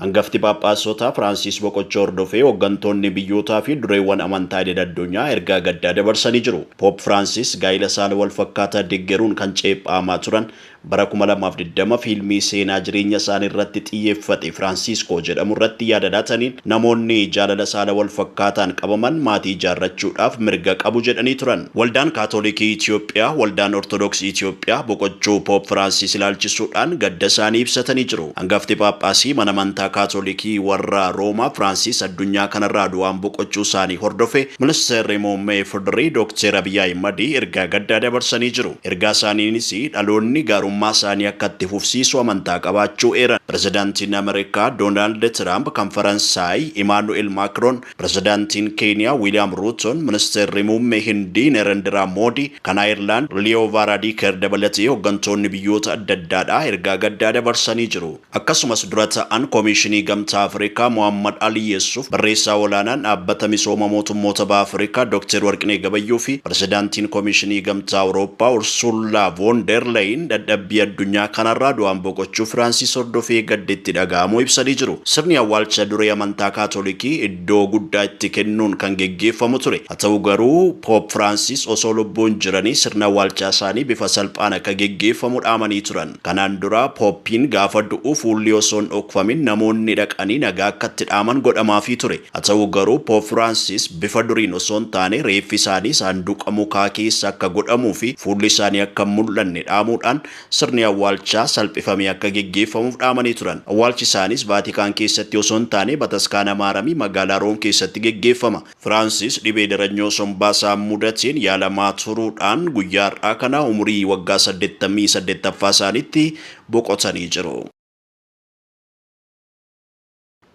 Hangafti Phaaphaasotaa Firaansiis boqochuu hordofee hoggantoonni biyyootaa fi dureewwan amantaa idil addunyaa ergaa gaddaa dabarsanii jiru. Poop Firaansiis gaa'ila saala wal fakkaataa deggeruun kan ceepha'amaa turan bara kuma lamaa fi digdama fiilmii seenaa jireenya isaanii irratti xiyyeeffate Firaansiiskoo jedhamu irratti yaada laataniin namoonni jaalala saala wal fakkaataan qabaman maatii ijaarrachuudhaaf mirga qabu jedhanii turan. Waldaan Kaatolikii Itiyoophiyaa, Waldaan Ortodoksii Itiyoophiyaa boqochuu Poop Firaansiis ilaalchisuudhaan gadda isaanii ibsatanii jiru. Angafti Phaaphaasii mana amantaa Kaatolikii warra Roomaa Firaansiis addunyaa kanarraa du'aan boqochuu isaanii hordofe Ministeerri Muummee Ifdri Dookteer Abiy Ahimadi ergaa gaddaa dabarsanii jiru. Ergaa isaaniinis dhaloonni gaarummaa isaanii akka itti fufsiisu amantaa qabaachuu eeran. Pirezidaantiin Ameerikaa Doonaald Tiraamp kan Faransaay Imaanu'eel Maakroon Pirezidaantiin Keeniyaa Wiiliyaam Ruutoon, Ministeerri Muummee Hindii Nerendiraa Moodii, kan Ayirlaand Liyoo Vaaraadiikeer dabalatee hoggantoonni biyyoota adda addaadhaa ergaa gaddaa dabarsanii jiru. Akkasumas Dura Ta'an Komiishinii Gamtaa Afrikaa Mohaammad Alii Yeessuuf, Barreessaa Olaanaan Dhaabbata Misooma Mootummoota Baha Afrikaa Dokteer Warqinee Gabayyoo fi Pirezidaantiin Komiishinii Gamtaa Awurooppaa Ursuullaa Voon Deer Leeyin dadhabbii addunyaa kanarraa du'aan boqochuu Firaansiis hordofee gaddi itti dhaga'amuu ibsanii jiru. Sirni awwaalcha duree amantaa Kaatolikii iddoo guddaa itti kennuun kan geggeeffamu ture. Haa ta'u garuu, Poop Firaansis osoo lubbuun jiranii sirna awwaalchaasaanii bifa salphaan akka geggeeffamu dhaamanii turan. Kanaan dura, Pooppiin gaafa du'u fuulli osoo hin dhokfamin namoonni dhaqanii nagaa akka itti dhaaman godhamaafii ture. Haa ta'u garuu, Poop Firaansis bifa duriin osoo hin taane reeffisaanii saanduqa mukaa keessa akka godhamuufi fuullisaanii akka hin mul'anne dhaamuudhaan, sirni awwaalchaa salphifamee akka geggeeffamuuf dhaamanii turan. Awwaalchi isaaniis Vaatikaan keessatti osoo hin taane Bataskaana Maaramii magaalaa Room keessatti geggeeffama. Firaansis dhibee daranyoo sombaa isaan mudateen yaalamaa turuudhaan guyyaa har'aa kana umurii waggaa saddeettamii saddeettaffaa isaaniitti boqotanii jiru.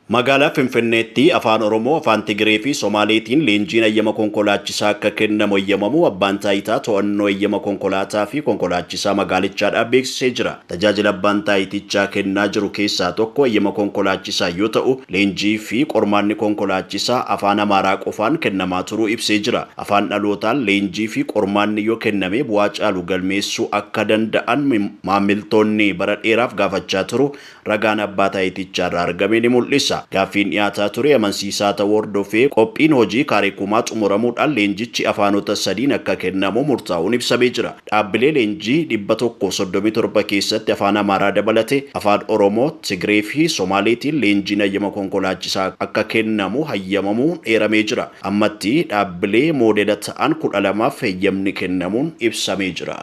Magaalaa Finfinneetti Afaan Oromoo, Afaan Tigiree fi Somaaleetiin leenjiin hayyama konkolaachisaa akka kennamu eyyamamuu Abbaan Taayitaa To'annoo Eyyama Konkolaataa fi Konkolaachisaa Magaalichaadhaa beeksisee jira. Tajaajila Abbaan Taayitichaa kennaa jiru keessaa tokko eyyama konkolaachisaa yoo ta'u, leenjii fi qormaanni konkolaachisaa Afaan Amaaraa qofaan kennamaa turuu ibsee jira. Afaan dhalootaan leenjii fi qormaanni yoo kenname bu'aa caalu galmeessuu akka danda'an maammiltoonni bara dheeraaf gaafachaa turuu ragaan Abbaa Taayitichaarraa argame ni mul'isa. Gaaffiin dhiyaataa ture amansiisaa ta'uu hordofee qophiin hojii kaarikumaa xumuramuudhaan leenjichi afaanota sadiin akka kennamu murtaa'uun ibsamee jira. Dhaabbilee leenjii dhibba tokkoo fi soddomii torba keessatti Afaan Amaaraa dabalatee Afaan Oromoo, Tigreefi Somaaleetiin leenjiin hayyama konkolaachisaa akka kennamu hayyamamuun eeramee jira. Ammatti dhaabbilee moodela ta'an kudha lamaaf heyyamni kennamuun ibsamee jira.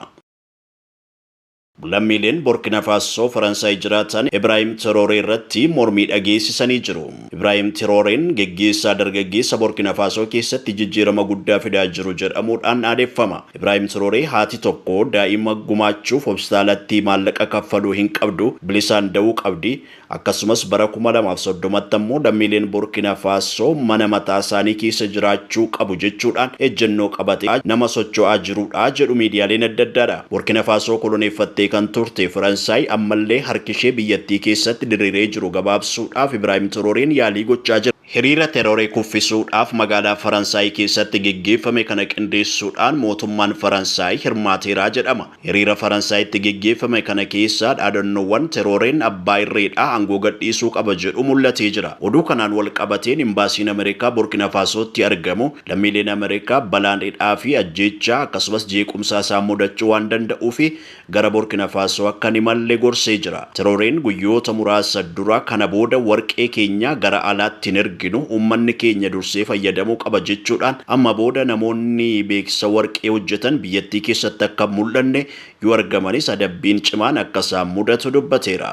Lammiileen Borkina Faassoo Faransaay jiraatan Ibraahim Tirooree irratti mormii dhageessisanii jiru. Ibraahim Tirooreen geggeessaa dargaggeessa Borkina Faasoo keessatti jijjiirama guddaa fidaa jiru jedhamuudhaan dhaadheffama. Ibraahim Tirooree haati tokko daa'ima gumaachuuf hopstaalatti maallaqa kaffaluu hin qabdu, bilisaan da'uu qabdi, Akkasumas bara kuma lamaa fi soddomatti ammoo lammiileen Burkina Faso mana mataa isaanii keessa jiraachuu qabu jechuudhaan ejjennoo qabate nama socho'aa jiruudha jedhu miidiyaaleen adda addaadha. Burkina Faso koloneeffattee kan turte Faransaay ammallee harki ishee biyyattii keessatti diriiree jiru gabaabsuudhaaf Ibraahim Torooreen yaalii gochaa jirti. Hiriira Terooree kuffisuudhaaf magaalaa Faransaay keessatti geggeeffame kana qindeessuudhaan mootummaan Faransaay hirmaateera jedhama. Hiriira Faransaayitti geggeeffame kana keessa dhaadannoowwan Terooreen abbaa irreedha, aangoo gadhiisuu qaba jedhu mul'atee jira. Oduu kanaan wal qabateen Imbaasiin Ameerikaa Burkina Faasootti argamu lammiileen Ameerikaa balaan hidhaa fi ajjeechaa akkasumas jeequmsaa isaan mudachuu waan danda'uufi gara Burkina Faasoo akka hin imalle gorsee jira. Tirooreen guyyoota muraasa dura kana booda warqee keenya gara alaatti hin erginu, uummanni keenya dursee fayyadamuu qaba jechuudhaan amma booda namoonni beeksisa warqee hojjetan biyyattii keessatti akka hin mul'anne, yoo argamanis adabbiin cimaan akka isaan mudatu dubbateera.